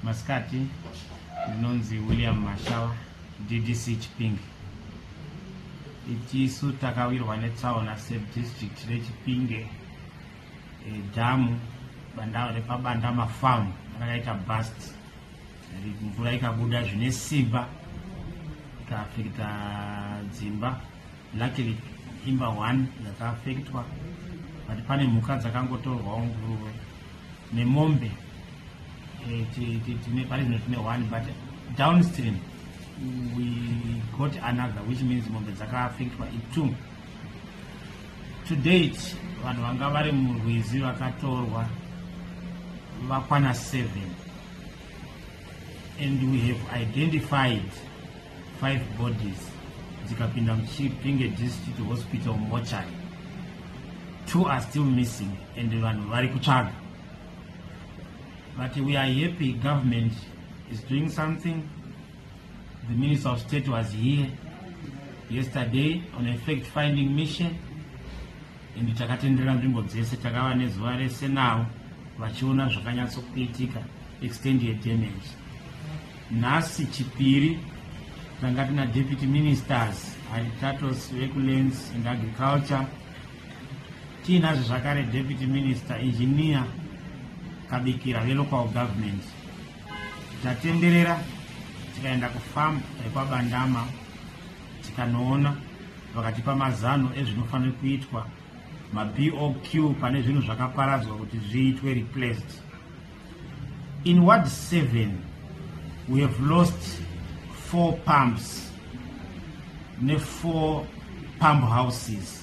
Masikati ndinonzi William Mashawa DDC Chipinge. Itisu takawirwa netsaona sedistrict reChipinge e, dhamu banda repabanda mafamu rakaita bust mvura ikabuda zvine simba ikaafekita dzimba luckily imba one yakaafektwa but pane mhuka dzakangotorwawo nguruve nemombe eh, tine pari zvino tine one but downstream we got another which means mombe dzakaafectwa itwo to date vanhu vanga vari murwizi vakatorwa vakwana seven and we have identified five bodies dzikapinda muchipinge district hospital mochari two are still missing and vanhu vari kutsvaga but we are happy government is doing something the minister of state was here yesterday on a fact finding mission and takatenderera nzvimbo dzese takava nezuva rese nawo vachiona zvakanyatsokuitika extend ye damage nhasi chipiri tanga tina deputy ministers haritatos vekulens and agriculture Tiinazve zvakare Deputy Minister Engineer Kabikira veLocal Government. Tatenderera tikaenda kufarm rekwaBandama tikanoona vakatipa mazano ezvinofanira kuitwa maBOQ pane zvinhu zvakaparadzwa kuti zviitwe replaced. In ward 7 we have lost four pumps nefour pump houses.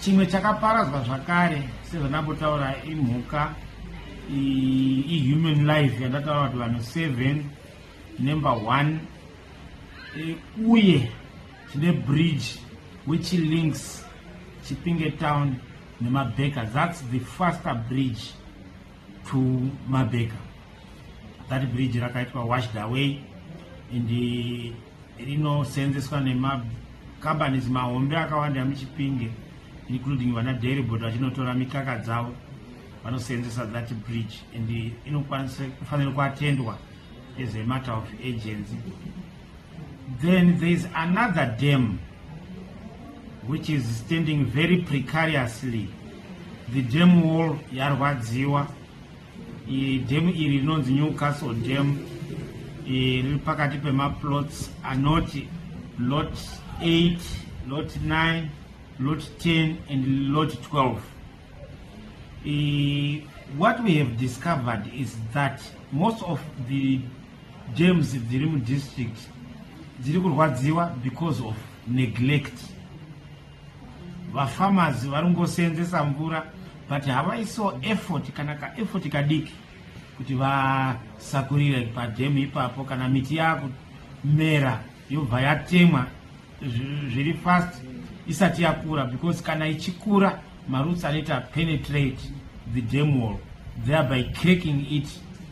Chimwe chakaparadzwa zvakare sezvandambotaura imhuka ihuman life yandataura kuti vanhu seven number one e, uye tine bridge which links chipinge town nemabeka thats the faster bridge to mabeka that bridge rakaitwa washed away and rinoseenzeswa nemacompanies mahombe akawanda emuchipinge including vana dairybot vachinotora mikaka dzavo vanoseenzesa that bridge and inokwanisa kufanira kuatendwa as a matter of agency then there is another dam which is standing very precariously the dam wall yarwadziwa Dhemu iri rinonzi Newcastle Dam riri pakati pemaplots anoti lot 8 lot 9 lot 10 and lot 12 e, what we have discovered is that most of the dams dziri mudistrict dziri kurwadziwa because of neglect vafamazi vari ngoseenzesa mvura but havaiso effort kana kaeffort kadiki kuti vasakurire padhemu ipapo kana miti yakumera yobva yatemwa zviri fast isati yakura because kana ichikura maroots anoita penetrate the dam wall thereby cracking it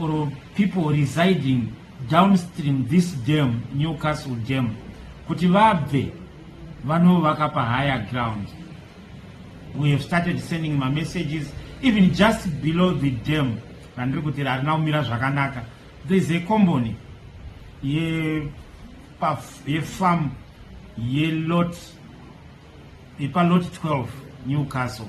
or people residing downstream this dam newcastle dam kuti vabve vanovaka pahigher ground we have started sending mamessages even just below the dam randiri kuti harina kumira zvakanaka there is a combony yefarm yelot ipalot 12 newcastle